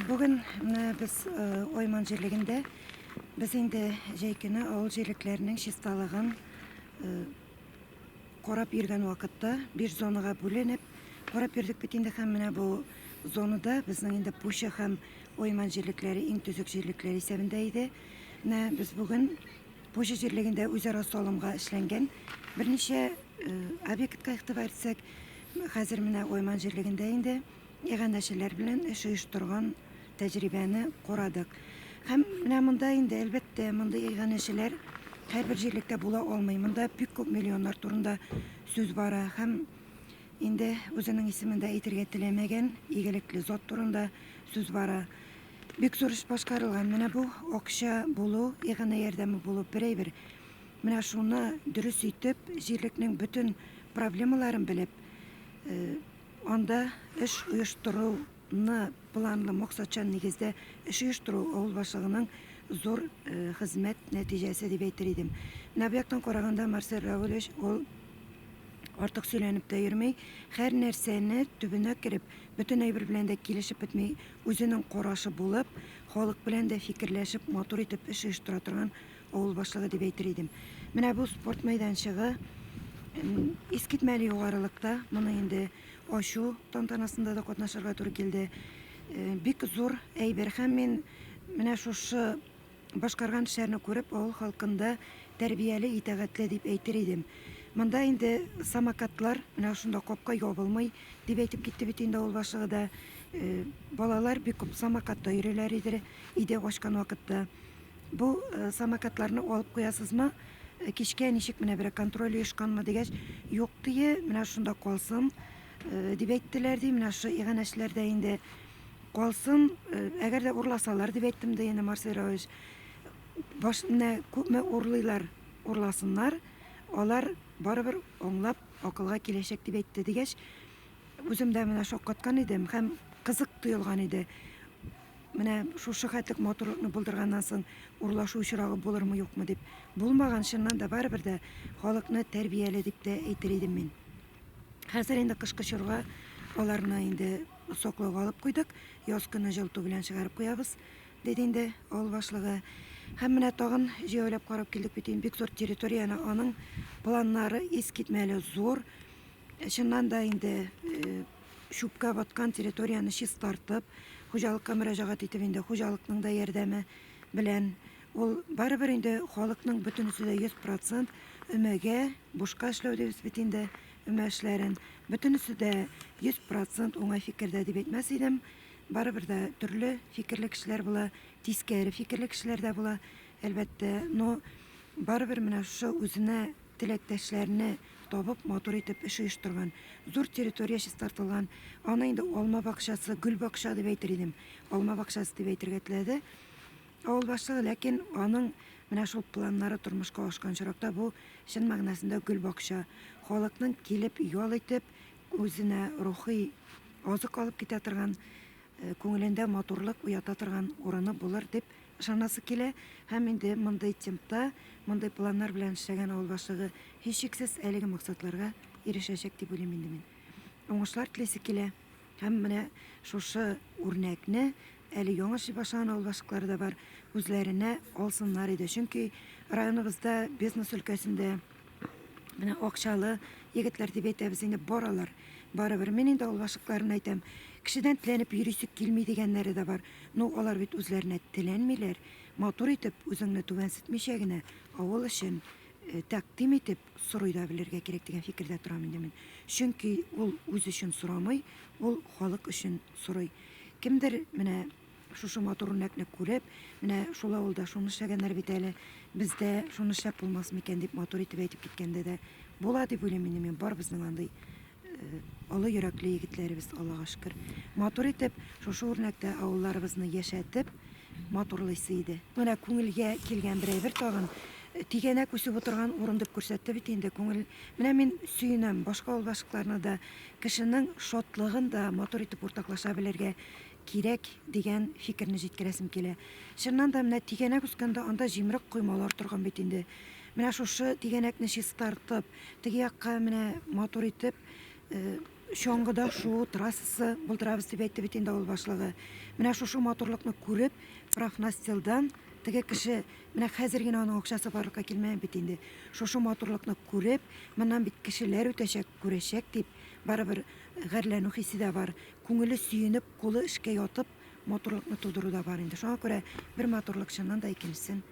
Бүген менә без Айман җирлегендә без инде җәй көне авыл җирлекләренең чисталыгын карап йөргән вакытта биш зонага бүленеп карап йөрдек бит инде һәм менә бу зонада безнең инде Пуща һәм Ойман җирлекләре иң төзек җирлекләр исәбендә иде. Менә без бүген Пуща җирлегендә үзара салымга эшләнгән берничә э, объектка игътибар итсәк, хәзер менә Ойман җирлегендә инде Иганәчеләр белән эш оештырган тәҗрибәне карадык. Һәм менә монда инде, әлбәттә, мондый иганәчеләр һәрбер җирлектә була алмый. Монда бик күп миллионнар турында сүз бара һәм инде үзенең исемендә әйтергә теләмәгән игелекле зат турында сүз бара. Бик зур эш башкарылган. Менә бу акча булу, иганә ярдәме булу берәйбер. Менә шуны дөрес итеп, җирлекнең бөтен проблемаларын белеп, э, Анда эш оештыруны планлы, максатчан нигездә эш оештыру авыл башлыгының зур хезмәт нәтиҗәсе дип әйтер идем. Менә бу яктан караганда Марсель Равилевич ул артык сөйләнеп тә йөрми, һәр нәрсәне төбенә кереп, бөтен әйбер белән дә килешеп бетми, үзенең карашы булып, халык белән дә фикерләшеп, матур итеп эш оештыра торган авыл башлыгы дип әйтер идем. Менә бу спорт мәйданчыгы искитмәле югарылыкта. Моны инде ачу тантанасында да катнашырга туры килде. Э, бик зур әйбер һәм мин менә шушы башкарган эшләрне күреп авыл халкында тәрбияле, итәгатьле дип әйтер идем. Монда инде самокатлар менә шунда капка ябылмый дип әйтеп китте бит инде авыл башлыгы да. Э, балалар бик күп самокатта йөриләр иде, иде ачкан вакытта. Бу самокатларны алып куясызмы? Кичкә ничек менә берәр контроль оешканмы дигәч, юк дие, менә шунда калсын дип әйттеләр ди, менә шушы иганәчеләрдә инде калсын, әгәр дә урласалар дип әйттем ди инде Марсель Равилович. Баш менә күпме урлыйлар, урласыннар, алар барыбер аңлап акылга киләчәк дип әйтте дигәч, үзем дә менә шаккаткан идем һәм кызык тоелган иде. Менә шушы хәтлек матурлыкны булдырганнан соң урлашу очрагы булырмы юкмы дип. Булмаган, чыннан да барыбер дә халыкны тәрбияле дип тә әйтер идем мин. Хәзер инде кышкы чорга аларны инде саклауга алып куйдык. Яз көне җылыту белән чыгарып куябыз, диде инде авыл башлыгы. Һәм менә тагын җәяүләп карап килдек бит инде бик зур территорияне, аның планнары искитмәле зур. Чыннан да инде э, чүпкә баткан территорияне чистартып, хуҗалыкка мөрәҗәгать итеп инде, хуҗалыкның да ярдәме белән ул барыбер инде халыкның бөтенесе дә 100% өмәгә бушка эшләү дибез бит инде өмә эшләрен. Бөтенесе дә 100% уңай фикердә дип әйтмәс идем. Барыбер дә төрле фикерле кешеләр була, тискәре фикерле кешеләр дә була, әлбәттә. Но барыбер менә шушы үзенә теләктәшләрне табып, матур итеп эш оештырган. Зур территория чистартылган. Аны инде алма бакчасы, гөл бакча дип әйтер идем. Алма бакчасы дип әйтергә теләде авыл башлыгы, ләкин аның менә шул планнары тормышка ашкан чоракта бу чын мәгънәсендә гөл бакча. Халыкның килеп ял итеп, үзенә рухи азык алып китә торган, э, күңелендә матурлык уята торган урыны булыр дип Ышанасы килә һәм инде мондый темпта, мондый планнар белән эшләгән авыл башлыгы, һичшиксез, әлеге максатларга ирешәчәк дип уйлыйм инде мин. Уңышлар телисе килә һәм менә шушы үрнәкне, әле яңа эшли башлаган авыл башлыклары да бар, үзләренә алсыннар иде. Чөнки районыбызда бизнес өлкәсендә, Менә акчалы егетләр дип әйтәбез инде, баралар. Барыбер мин инде ул башыкларын әйтәм. Кешедән теләнеп йөрисек килми дигәннәре дә бар. Ну, алар бит үзләренә теләнмиләр. Матур итеп, үзеңне түбәнсетмичә генә, авыл өчен э, тәкъдим итеп сорый да белергә кирәк дигән фикердә торам инде мин. Чөнки ул үз өчен сорамый, ул халык өчен сорый. Кемдер менә Шушы матур үрнәкне күреп, менә шул авылда шуны эшләгәннәр бит әле, бездә шуны эшләп булмас микән дип матур итеп әйтеп киткәндә дә була дип уйлыйм инде мин барыбызның андый э, олы йөрәкле егетләребез, Аллага шөкер. Матур итеп шушы үрнәктә авылларыбызны яшәтеп матурлыйсы иде. Менә күңелгә килгән бер әйбер тагын э, тигәнәк үсеп утырган урын дип күрсәтте бит инде күңел. Менә мин сөенәм, башка авылдашлыкларны да кешенең шатлыгын да матур итеп уртаклаша белергә кирәк дигән фикерне җиткерәсем килә. Чыннан да, менә тигәнәк үскәндә анда җимерек коймалар торган бит инде. Менә шушы тигәнәкне чистартып, теге якка менә матур итеп э, чаңгыда шуу трассасы булдырабыз дип әйтте бит инде авыл башлыгы. Менә шушы матурлыкны күреп, профнастилдан теге кеше менә хәзер генә аның акчасы барлыкка килмәгән бит инде. Шушы матурлыкны күреп, моннан бит кешеләр үтәчәк, күрәчәк дип, барыбер гарьләнү хисе дә бар. Күңеле сөенеп, кулы эшкә ятып, матурлыкны тудыру да бар инде. Шуңа күрә бер матурлык чыннан да икенчесен